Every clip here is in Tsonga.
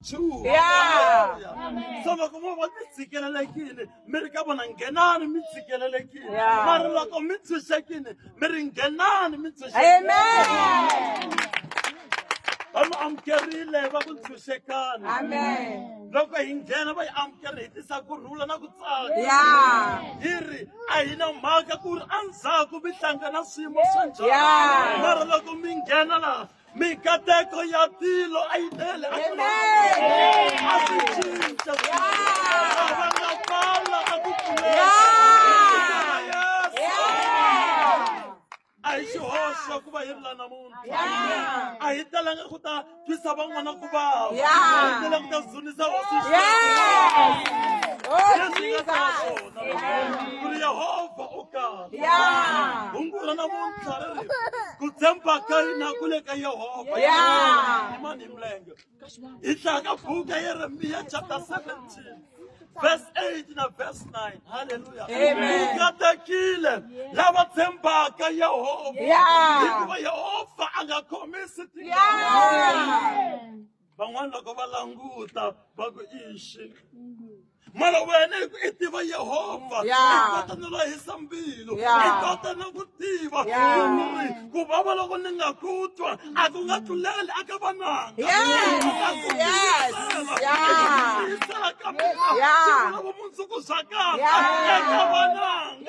True. Yeah. Amen. So loko mo va mi tshikelelekile mi ri ka vona nghenani mi tshikelelekile Yeah. mara loko mi tshunxekile mi ri nghenani mi tshunxekile Amen. va mi amukerile va ku ntshunxekani Amen. loko hi nghena va yi amukeri hi tisa ku rhula na ku tsaka Yeah. yi ri a hi na mhaka ku ri endzhaku mi hlangana swiyimo swa njhani Yeah. mara loko mi nghena laha mikateko ya tilo a yi tele a swi cinca avangakala a ku a hi xihoxo ku va yi ri la namuntlha a hi talanga ku ta twisa van'wana ku vava a hi talanga ku ta dzunisa hosi leswi nga ta swona kuri yehovha u kahle Yeah. Hungu ra namuntlha ri ri ku tshemba ka hina ku le ka Yehovha. Yeah. Imani mlenge. Hi tlhaya ka buku ya Yeremiya chapter 17 verse 8 na verse 9. Hallelujah. Amen. Katekile lava tshembaka Yehovha. Yeah. Hikuva Yehovha a nga khomisi tingana. Yeah. van'wana loko va languta va ku ixi mara wena hi ku i tiva yehovha i kota no lahisa mbilu i kota na ku tiva ri ku vava loko ni nga ku twa a ku nga tluleli aka vananga ka mina vumundzuku bya kahle eka vananga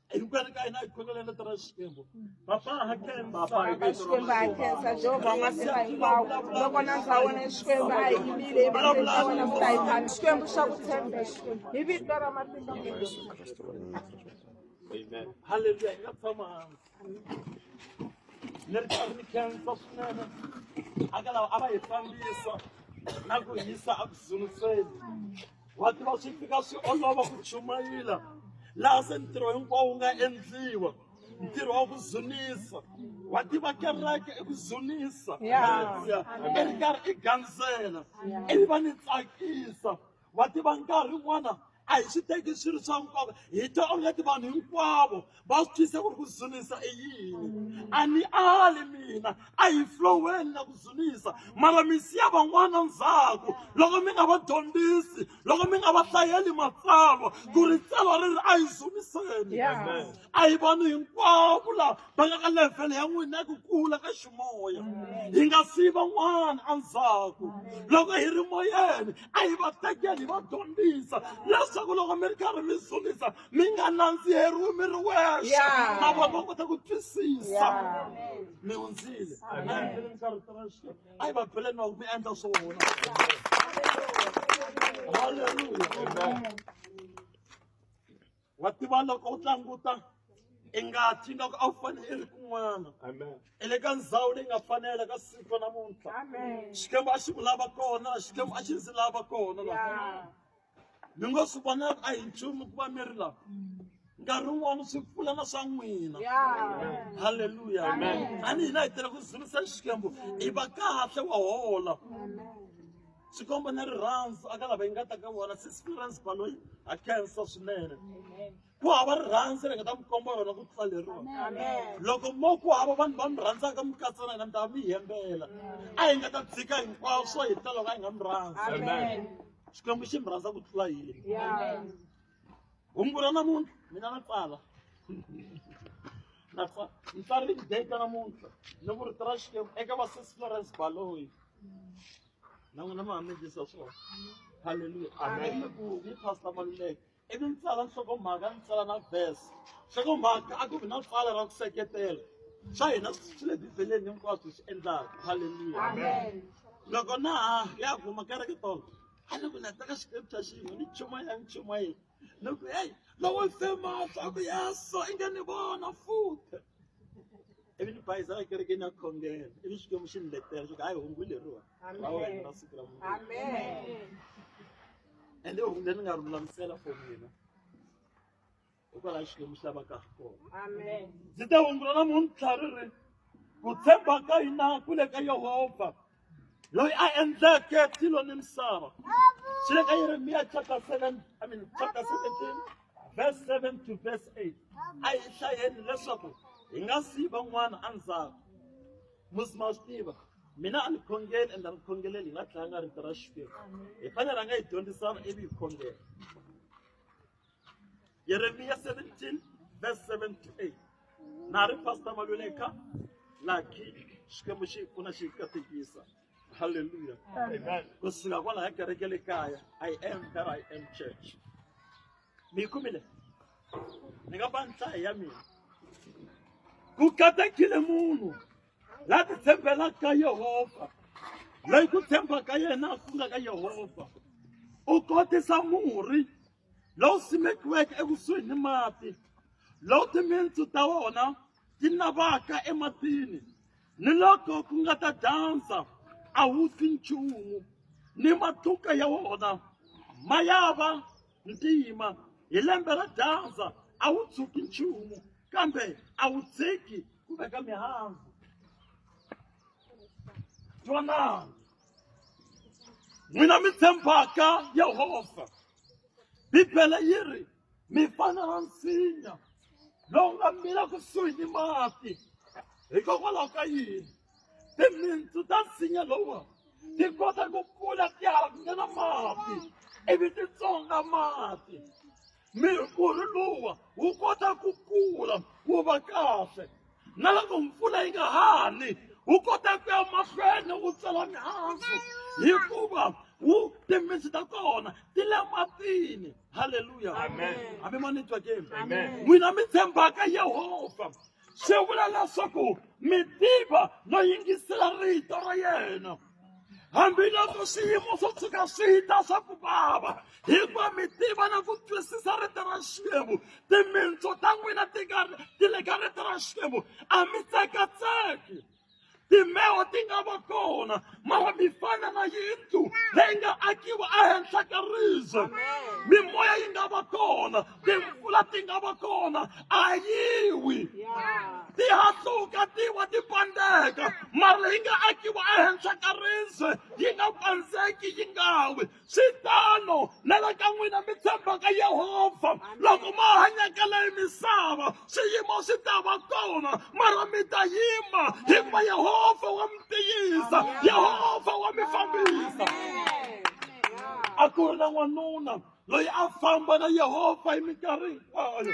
hinkwenu ka hina hi khongelele tira xikwembu papa ha xikwembu ha khensa jehovha wa matimba hinkwawo loko na ndza wena xikwembu a hi yimile hi vaendla wena ku ta hi phana xikwembu xa ku tshembeka hi vito ra matimba Amen. Hallelujah. Nga tshama hansi. Ni ri karhi ni khensa swinene. Aka lawa a va hi fambisa na ku hisa a ku dzunuseni. wa tiva swi fika swi olova ku chumayela laha se ntirho hinkwawo wu nga endliwa ntirho wa ku dzunisa wa tiva kereke i ku dzunisa haleluya i ri karhi i gandzela ivi va ni tsakisa wa tiva nkarhi wun'wana a hi swi teki swi ri swa nkoka hi twa onge ti vanhu hinkwavo va swi twisisa ku ri ku dzunisa i yini a ni ali mina a hi floweni na ku dzunisa mara mi siya van'wana ndzhaku loko mi nga va dyondzisi loko mi nga va hlayeli matsalwa ku ri tsalwa ri ri a hi dzuniseni a hi vanhu hinkwavo lava va nga ka levhele ya n'wina ya ku kula ka ximoya hi nga siyi van'wana endzhaku loko hi ri moyeni a hi va tekeli hi va dyondzisa leswaku loko mi ri karhi mi dzunisa mi nga nandziheriwi mi ri wexe Yeah. na vona va kota ku twisisa mi hundzile Amen. a yi va beleni va ku mi endla swo hona halleluya wa tiva loko u tlanguta i ngati yi nga ku a wu fanele i ri kun'wana Amen. i le ka ndhawu leyi nga fanela ka siku namuntlha xikwembu a xi ku lava kona xikwembu a xi ndzi lava kona namuntlha mi ngo swi vona a hi nchumu ku va mi ri laha nkarhi wun'wana swi pfuna na swa n'wina halleluya a ni hina hi tele ku dzunisa xikwembu i va kahle wa hola xikombo na rirhandzu a ka lava yi nga ta ka vona sisipirance baloyi a khensa swinene ku hava rirhandzu ri nga ta mi komba rona ku tlula leriwa loko mo ku hava vanhu va mi rhandzaka mi katsa na hina mi ta mi yembela a hi nga ta tshika hinkwaswo hi ta loko a hi nga mi rhandzi xikwembu xi mi rhandza ku tlula yini hungu ra namuntlha mina na tsala na tsala ni tsarile data namuntlha ni ku rito ra xikwembu eka vasesi florence baloyi na n'wina mi hamendlisa swona halleluya amen ku ni pastor maluleke ivi ni tsala nhlokomhaka ni tsala na verse nhlokomhaka a ku vi na pfala ra ku seketela swa hina swi le bibeleni hinkwaswo hi swi endlaka halleluya loko na ha ya kuma kereke tolo a ni ku ni teka scripture xin'we ni chumayela ni chumayela ni ku heyi lowo fema swa ku yeso i nge ni vona futhi ivi ni bayizela kerekeni ya khongela ivi xikwembu xi ni letela xo ku hayi hungu leriwani lawa hi na siku ra munhu Amen. ende hungu leri nga ri lulamisela for mina hikwalaho xikwembu xi lavaka ha kona Amen. ndzi ta hundzula namuntlha ri ri ku tshemba ka hina ku le ka yehovha loyi a endleke tilo ni misava swi le ka yeremiya chapter 7 i mean chapter 17 verse 7 to verse 8 a hi hlayeni leswaku hi nga siyi van'wana endzhaku musi ma swi tiva mina a ni khongeli ende a ni khongeleli hi nga tlanga rito ra xikwembu hi fanele ra nga yi dyondzisana ivi hi khongela yeremiya 17 verse 7 to 8 na ri pastor maluleka laki xikwembu xi hi pfuna xi hi katekisa halleluya ku suka kwalaha kereke le kaya i am that i am church mi kumile ni nga ba nhlayo ya mina ku katekile munhu la ti tshembelaka yehovha loyi ku tshemba ka yena a ku nga ka yehovha u kotisa murhi lowu simekiweke ekusuhi ni mati lowu timintsu ta wona ti navaka ematini ni loko ku nga ta dyandza a wu fi nchumu ni matluka ya wona ma ya va ntima hi lembe ra dyandza a wu tshuki nchumu kambe a wu tshiki ku veka mihandzu twana n'wina mi tshembaka yehovha bibele yi ri mi fana na nsinya lowu nga mila kusuhi ni mati hikokwalaho ka yini timitsu ta nsinya lowu ti kota ku kula ti halakanya na mati ivi ti tsonga mati mirhurhi luwa wu kota ku kula wu va kahle na loko mpfula yi nga hani wu kota ku ya mahlweni wu tsala mihandzu hikuva wu timitsu ta kona ti le matini halleluya hambi ma ni twa ke n'wina mi tshembaka yehovha swi vula leswaku mi tiva no yingisela rito ra yena hambiloko swiyimo swo tshuka swi ta swa ku vava hikuva mi tiva na ku twisisa rito ra xikwembu timintsu ta n'wina ti ka ti le ka rito ra xikwembu a mi tsekatseki timbewu ti nga va kona mara mi fana na yindlu leyi nga akiwa ehenhla ka riza mimoya yi nga va kona timpfula ti nga va kona a yiwi ti hatluka ti wa ti pandeka mara yi nga akiwa ehenhla ka riza yi nga pandzeki yi nga wi swi tano na le ka n'wina mi tshembaka yehovha loko ma hanyaka leyi misava swiyimo swi ta va kona mara mi ta yima hikuva yehovha wa mi tiyisa yehovha wa mi fambisa a ku ri na n'wanuna loyi a famba na yehovha hi minkarhi hinkwayo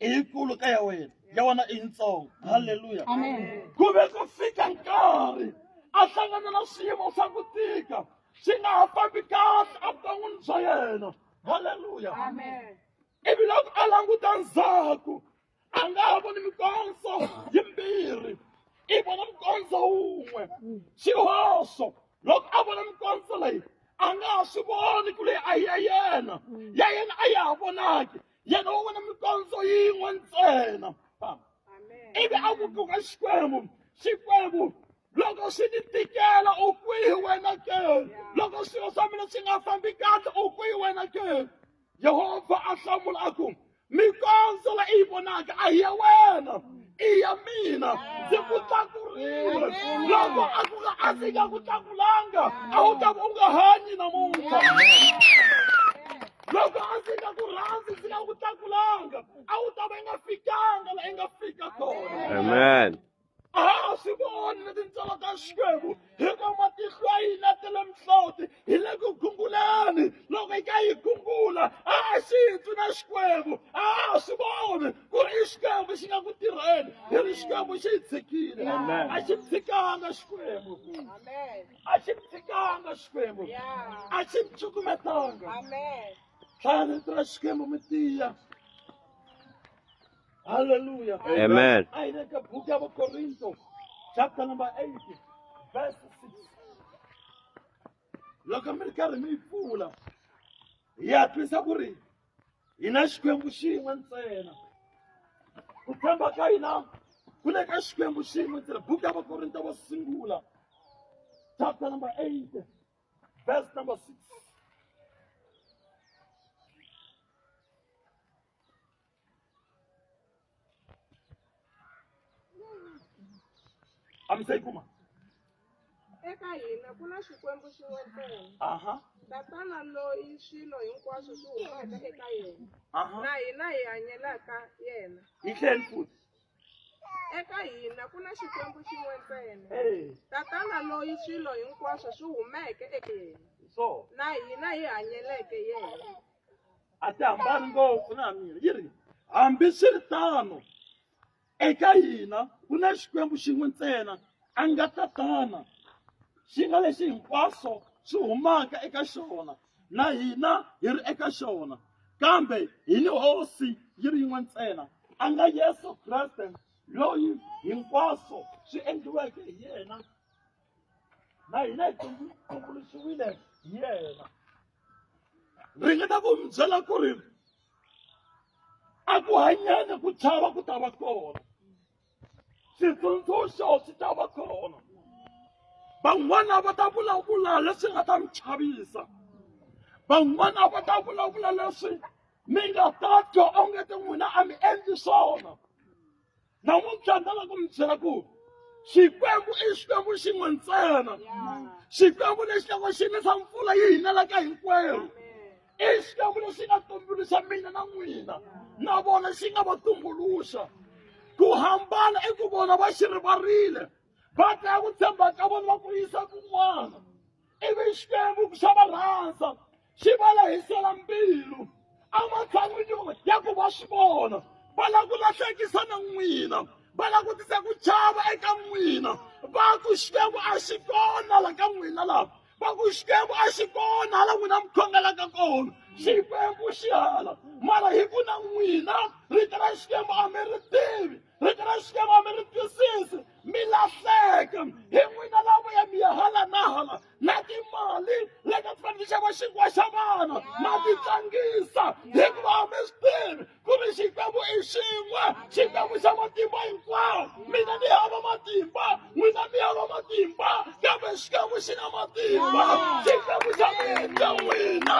i yikulu ka ya wena ya wena i yitsongo halleluya ku ve ku fika nkarhi a hlangana na swiyimo swa ku tika swi nga ha fambi kahle evuton'wini bya yena halleluya ivi loko a languta ndzhaku a nga ha voni mikondzo yimbirhi i vona mukondzo wun'we xihoxo loko a vona mikondzo leyi a nga ha swi voni ku leyi a hi ya yena ya yena a ya ha vonaki yena wo vona mikondzo yin'we ntsena famba ivi a vutuka xikwembu xikwembu loko swi ni tikela u kwihi wena ke loko swilo swa mina swi nga fambi kahle u kwihi wena ke yehovha a hlamula a ku mikondzo la i yi vonaka a hi ya wena i ya mina ndzi ku tlakurile loko a ku nga a ndzi nga ku tlakulanga a wu ta va u nga hanyi namuntlha loko a ndzi nga ku rhandzi ndzi nga ku tlakulanga a wu ta va i nga fikanga la i nga fika kona amen a ha swi voni na tintsolo ta xikwembu hikuva matihlo ya hina ta le mihloti hi le ku gunguleni loko yi ka yi gungula a ha xi twi na xikwembu a ha swi voni ku ri i xikwembu xi nga ku tirheni hi ri xikwembu xi hi tshikile a xi tshikanga xikwembu a xi mi tshikanga xikwembu a xi mi cukumetanga tlhani vito ra xikwembu mi tiya halleluya amen a hi le ka buku ya vakorinto chapter number 8 verse 6 loko mi ri karhi mi yi pfula ya twisa ku ri hi na xikwembu xin'we ntsena ku tshemba ka hina ku le ka xikwembu xin'we ntsena buku ya vakorinto va sungula chapter number 8 verse number 6 Hi a mi se yi kuma eka hina ku na xikwembu xin'we ntsena aha tatana loyi swilo hinkwaswo swi humaka eka yena aha na hina hi hanyelaka yena yi tlheni futhi eka hina ku na xikwembu xin'we ntsena Eh, tatana loyi swilo hinkwaswo swi humeke eka yena so na hina hi hanyeleke yena a ti hambani ngopfu na mina yi ri hambiswiritano eka hina ku na xikwembu xin'we ntsena a nga tatana xi nga lexi hinkwaswo swi humaka eka xona na hina hi ri eka xona kambe hi ni hosi yi ri yin'we ntsena a nga yesu kreste loyi hinkwaswo swi endliweke hi yena na hina hi tumbuluxiwile hi yena ringeta ku mi byela ku ri a ku hanyana ku chava ku ta va kona xitsundzuxo xi ta va kona van'wana va ta vulavula leswi nga ta mi chavisa van'wana va ta vulavula leswi mi nga ta twa onge ti n'wina a mi endli swona namuntlha ni lava ku mi byela ku xikwembu i xikwembu xin'we ntsena xikwembu lexi loko xi nisa mpfula yi hinelaka hinkwerhu i xikwembu lexi nga tumbuluxa mina na n'wina na vona xi nga va tumbuluxa ku hambana i ku vona va xi rivarile va dlaya ku tshemba ka vona va ku yisa kun'wana ivi xikwembu xa va rhandza xi va lehisela mbilu ematshan'wini ya ku va swi vona va lava ku lahlekisa na n'wina va lava ku tisa ku chava eka n'wina va ku xikwembu a xi kona la ka n'wina laha va ku xikwembu a xi kona hala n'wina mi khongelaka kona xikwembu xi hala mara hi ku na n'wina rito ra xikwembu a mi ri tivi rito ra xikwembu a mi ri twisisi mi lahleka hi n'wina lavo ya mi ya hala na hala na timali leti a ti fanele xava xinkwa xa vana ma ti tlangisa hikuva a mi swi tivi ku ri xikwembu i xin'we xikwembu xa matimba hinkwawo mina ni hava matimba n'wina mi hava matimba kambe xikwembu xi na matimba xikwembu xa mi endla n'wina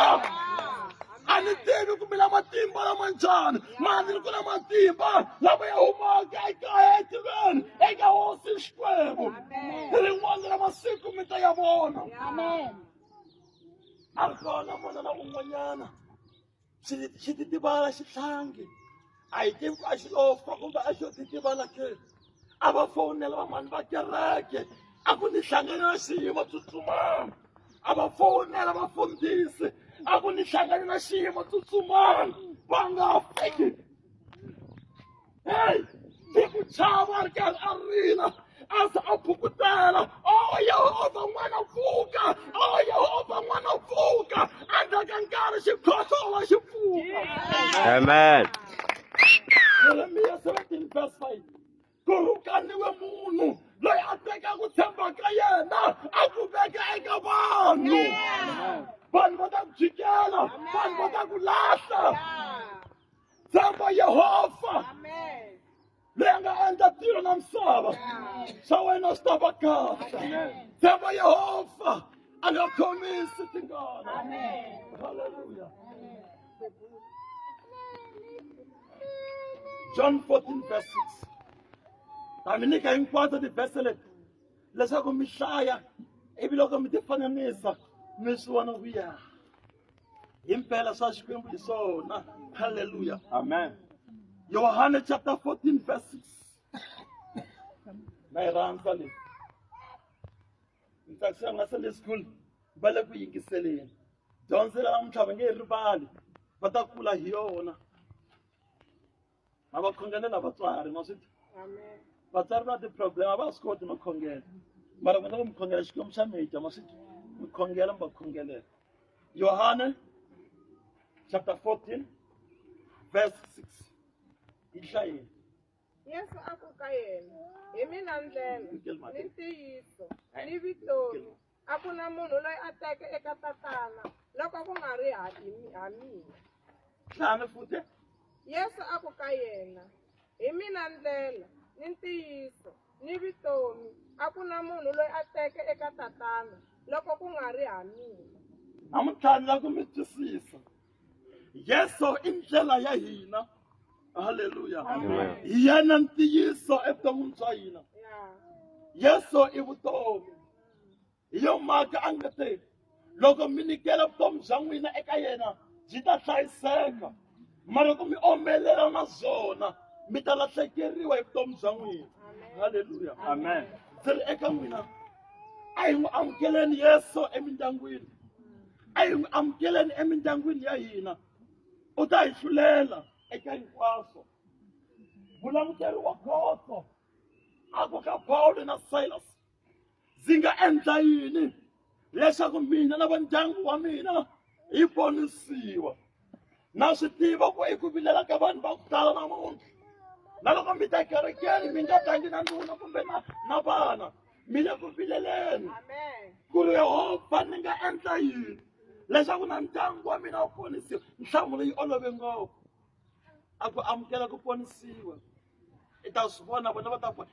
a ni tivi ku mila matimba lama njhani mani ni ku na matimba lama ya humaka ekaya etiveni eka hosi xikwembu rin'wana ra masiku mi ta ya vona a ri kona munhu na un'wanyana xititivala xihlangi a hi tivi ku a xi lofa kumbe a xo ti tiva la ke a va fowunela van'wani va kereke a ku ni hlangane na xiyimo tsutsumani a va fowunela vafundhisi a ku ni hlangane na xiyimo tsutsumani va nga fiki heyi hi ku chava ri karhi a rila asa a phukutela o oh, yehova n'wana pfuka o oh, yehova n'wana pfuka endzhaku ka nkarhi xikhohlola xi pfuka amen yeremiya 17 verse 5 ku rhukaniwe munhu loyi a teka ku tshemba ka yena a ku veka eka vanhu vanhu va ta ku jikela vanhu va ta ku lahla tshemba yehova loyi a nga endla tilo na misava swa wena swi ta va kahle tshemba yehovha a nga khomisi tingana halleluya john 14 verse 6 ta mi nyika hinkwato tivhese leti leswaku mi hlaya ivi loko mi ti fananisa mi swi vona ku ya impela swa xikwembu hi swona halleluya amen yohane chapter 14 verse 6 na yi rhandza leyi ni tsakisa nga sunday school va le ku yingiseleni dyondzo ra namuntlha va nge yi rivali va ta kula hi yona ma va khongelela vatswari ma swi Amen. vatswari va ti-problem a va swi koti no khongela mara mi nga mi khongela xikwembu xa mita ma swi mi khongela mi va khongelela yohane chapter 14 verse 6 yi hlayeni Yesu a ku ka yena, Hi mina ndlela, ni ntiyiso, ni vutomi, A ku na munhu loyi a teke eka tatana loko ku nga ri ha hi- ha mina. Tlhanu futhi. Yesu a ku ka yena, Hi mina ndlela, ni ntiyiso, ni vutomi, a ku na munhu loyi a teke eka tatana loko ku nga ri ha mina. Namuntlha ni lava ku mi twisisa. Yesu i ndlela ya hina. Haleluya. Amen. Hi yena ntiyiso evuton'wini bya hina. Ya. Yesu i vutomi. hi yo mhaka a nga te loko mi nyikela vutomi bya n'wina eka yena byi ta hlayiseka mara loko mi omelela na byona mi ta lahlekeriwa hi vutomi bya n'wina halleluya amen ndzi ri eka n'wina a hi n'wi amukeleni yesu emindyangwini a yi amukeleni emindyangwini ya hina u ta hi hlulela eka hinkwaswo vulamukeri wa khoso a ku ka pawulo na silas ndzi nga endla yini leswaku mina na va ndyangu wa mina hi ponisiwa na swi tiva ku eku vilela ka vanhu va ku tala namuntlha na loko mi ta kerekeni mi nga tangi na nuna kumbe na na vana mi le ku vileleni ku ri yehovha ni nga endla yini leswaku na ndyangu wa mina wu ponisiwa nhlamulo yi olove ngopfu a ku amukela ku ponisiwa i ta swi vona vona va ta ku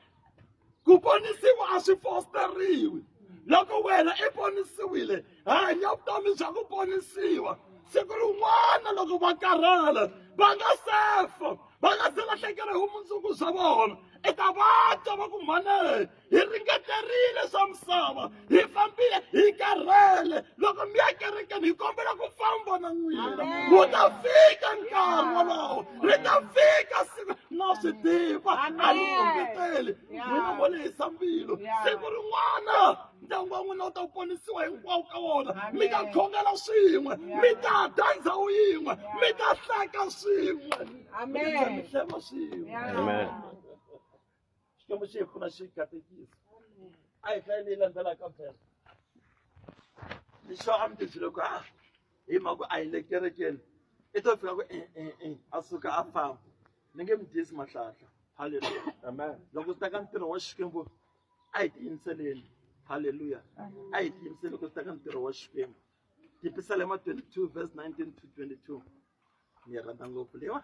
ku ponisiwa a swi fosteriwi loko wena i ponisiwile hanya vutomi bya ku ponisiwa siku rin'wana loko va karhala va nga sefa va nga se lahlekela hi vumundzuku bya vona i ta vatwa va ku mhane hi ringeterile swa misava hi fambile hi karhele loko mi ya kerekeni hi kombela ku famba na n'wina wu ta fika nkarhi wolowo ri ta fika siku na swi tiva a ni kombeteli n'wina vo lehisa mbilu siku rin'wana ndyangu wa n'wina wu ta ponisiwa hinkwawo ka wona mi ta khongela swin'we mi ta dya ndhawu yin'we mi ta hleka swin'we mi ta tshamisela swin'we xikwembu xi hi pfuna xi katekisa a hi hlayi leyi landzelaka phela lexo a mi tibyile ku a hi mhaka ku a hi le kerekeni i to fika ku e e e a suka a famba ni nge mi dyisi mahlahla halleluya Amen. loko swi ta ka ntirho wa xikwembu a hi tiyimiseleni halleluya a hi tiyimiseli loko swi ta ka ntirho wa xikwembu tipisale ma 22 verse 19 to 22 ni yi rhandza ngopfu leyiwa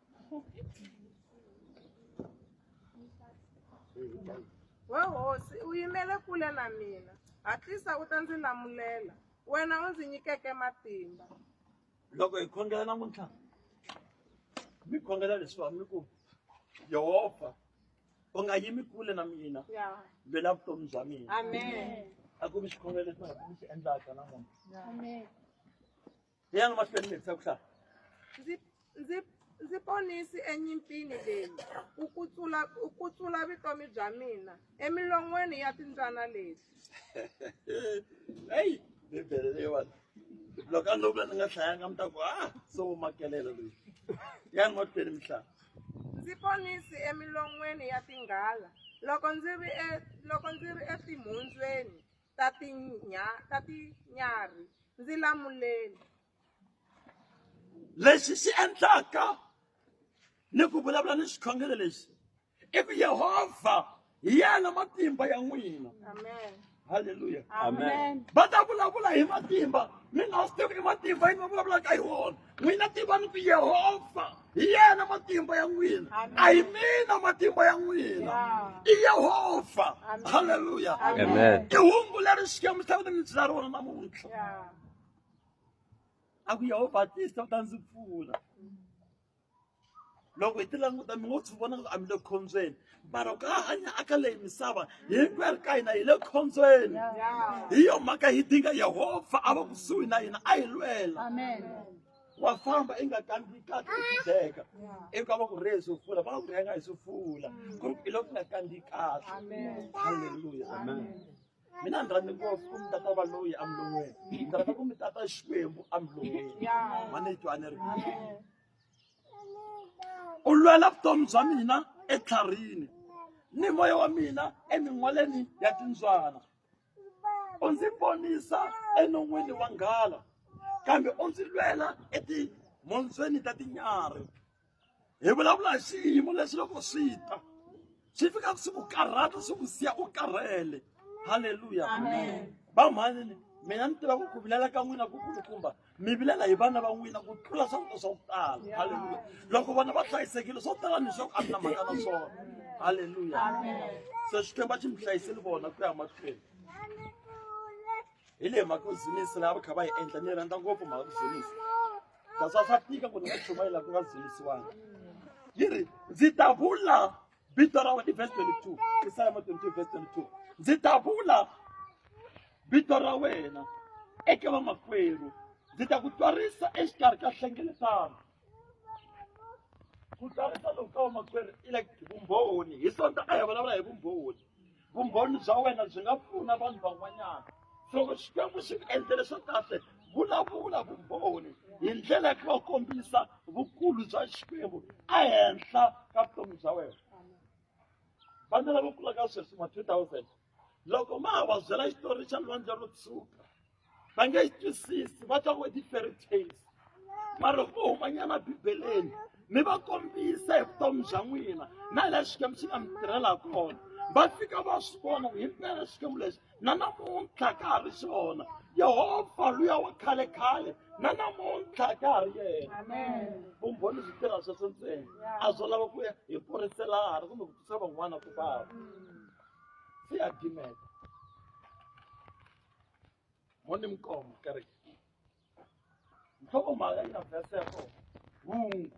we hosi u yimele kule na mina hatlisa u ta ndzi lamulela wena u ndzi nyikeke matimba loko hi khongela namuntlha mi khongela leswiwa mi ku yehovha u nga yimi kule na mina vela vutomi bya mina a ku vi xikhongelo lexi nga ku mi xi endlaka namuntlha Hi ya mahlweni mi hetisa ku hlaya. Ndzi ndzi ndzi ponisi enyimpini leyi u kutsula u kutsula vutomi bya mina emilon'weni ya timbyana leti. Hey, Bibele leyiwani. Loko a no vula ni nga hlayanga mi ta ku ah so u makelela loyi. Hi ya mahlweni mi hlaya. Ndzi ponisi emilon'weni ya tinghala loko ndzi ri e loko ndzi ri etimhondzweni. ta tinya ta tinyarhi ndzi lamuleni lexi xi endlaka ni ku vulavula ni xikhongelo lexi i ku yehovha hi yena matimba ya n'wina amen halleluya amen va ta vulavula hi matimba mi nga swi tivi i matimba yini va vulavulaka hi wona n'wina tivani ku yehovha hi yena matimba ya n'wina a hi mina matimba ya n'wina i yehovha halleluya i hungu leri xikwembu xa kutani byi la rona namuntlha a ku yehovha tisa u ta ndzi pfuna loko hi ti languta mi ngo swi vona a mi le khombyeni mara ku a hanya aka leyi misava hinkwerhu ka hina hi le khombyeni hi yo mhaka hi dinga yehovha a va kusuhi na hina a hi lwela wa famba i nga kandziyi kahle i tideka iku a va ku rheye swo fula va nga ku rhenga hi swo fula ku ri i loko ku nga kandziyi kahle halleluya amen mina ni rhandza ngopfu ku mi tata valoyi emilon'weni ni rhandza ku mi tata xikwembu emilon'weni mane yi twaneri u lwela vutomi bya mina etlharini ni moya wa mina emin'waleni ya timbyana u ndzi ponisa enon'wini wa nghala kambe u ndzi lwela etimhondzweni ta tinyarhi hi vulavula hi swiyimo leswi loko swi ta swi fika swi ku karhata swi ku siya u karhele halleluya vamhani mina ni tiva ku ku vilela ka n'wina ku kulukumba mi vilela hi vana va n'wina ku tlula swakudya swa ku tala halleluya loko vana va hlayisekile swo tala ni swaku a ni na mhaka na swona halleluya se xikwembu a xi mi hlayiseli vona ku ya mahlweni hi leyi mhaka yo zunisi laha va kha va yi endla ni yi rhandza ngopfu mhaka ku zunisa naswona swa tika ku ni nga chumayela ku nga dzunisiwangi yi ri ndzi ta vula vito ra wena i verse 22 isalama 22 verse 22 ndzi ta vula vito ra wena eka vamakwerhu ndzi ta ku twarisa exikarhi ka hlengeletano ku twarisa loku ka vamakwerhu i like vumbhoni hi sonta a hi vulavula hi vumbhoni vumbhoni bya wena byi nga pfuna vanhu van'wanyana loko xikwembu xi ku endlele swa kahle vulavula vumbhoni hi ndlela ya ku va kombisa vukulu bya xikwembu ehenhla ka vutomi bya wena vana lava kulaka sweswi ma-two thousand loko ma ha va byela xitori xa lwandle ro tshuka va nge yi twisisi va twa ngo ti-fairy tales mara loko vo humanyana bibeleni mi va kombisa hi vutomi bya n'wina na hi laha xikwembu xi nga mi tirhela kona va fika va swi vona ku himpela xikwembu lexi na namuntlha ka ha ri xona yehovha luya wa khale khale na namuntlha ka ha ri yena vumbhoni byi tirha sweswo ntsena a byo lava ku ya hi kurisela hala kumbe ku twisa van'wana ku vava se ya dimeta mone mqomo kere nhloko mhaka yi na vese ya kona hungu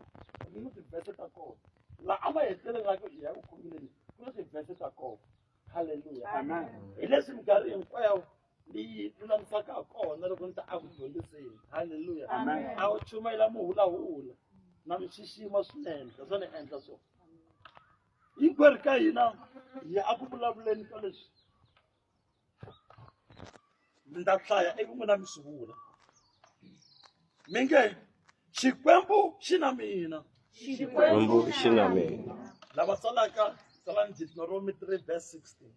ni ni tivese ta kona la a ma hetelelaka i ya ku khomileni ku ni tivese ta kona halleluya amen hi leswi minkarhi hinkwayo leyi lulamisaka ha kona loko ni ta a ku dyondziseni halleluya a wu chumayela muhulahula na mi xixima swinene leswo ni endla swo hinkwerhu ka hina hi ya eku vulavuleni ka leswi mi ta hlaya ivi n'wina mi sungula mi nge xikwembu xi na mina xikwembu xi na mina lava tsalaka tsalani deuteronomy 3 verse 16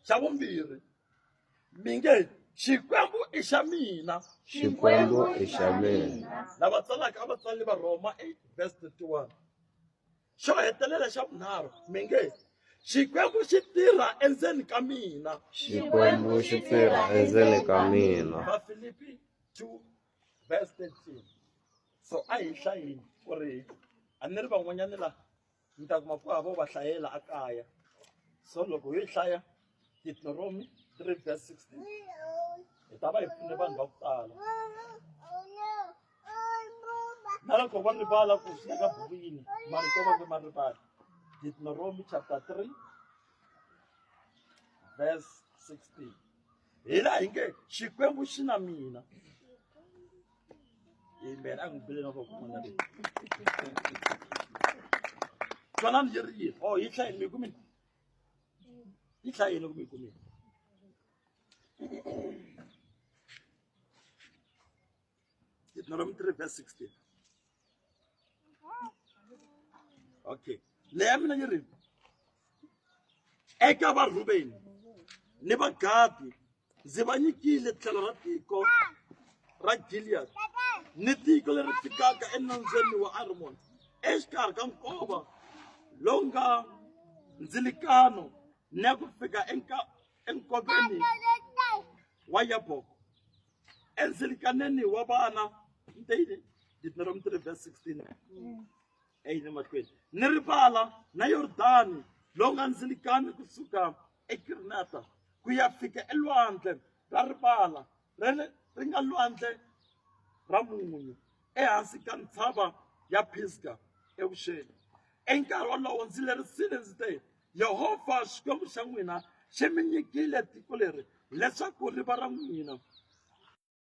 xa vumbirhi mi nge xikwembu i xa mina xikwembu i xa mina lava tsalaka a va tsali va rhoma 8 verse 31 xo hetelela xa vunharhu mi nge xikwembu xi tirha endzeni ka mina xikwembu xi tirha endzeni ka mina vafilipi 2 verse 13 so a hi hlayini ku ri a ni ri van'wanyani laha ni ta kuma ku hava va hlayela a kaya so loko hi hlaya Deuteronomy 3 verse 16 hi ta va hi pfune vanhu va ku tala na loko va rivala ku swi ka buku yini marito va ve ma rivala Deuteronomy chapter 3 verse 16 hi laha hi nge xikwembu xi na mina amen a n'wi bile na vakun'wana leyi twanani yi ri yini o oh, yi hlayi mi kumini yi hlayile kumbe yi kumile Deuteronomy 3 verse 16 okay leya mina yi ri eka varhubeni ni vagadi ndzi va nyikile tlhelo ra tiko ra gilead ni tiko leri fikaka enambyeni wa armon exikarhi ka nkova lowu nga ndzilikano ni ya ku fika enkoveni wa yaboko endzilikaneni wa vana nteyini deuteronomy 3 verse 16 eyini mahlweni ni rivala na yordani lowu nga ndzilikani kusuka eKirinata ku ya fika elwandle ra rivala ra le ri nga lwandle ra munyu ehansi ka ntshava ya Pisga evuxeni. I nkarhi wolowo ndzi lerisile ndzi te, Yehovha Xikwembu xa n'wina xi mi nyikile tiko leri leswaku ri va ra n'wina.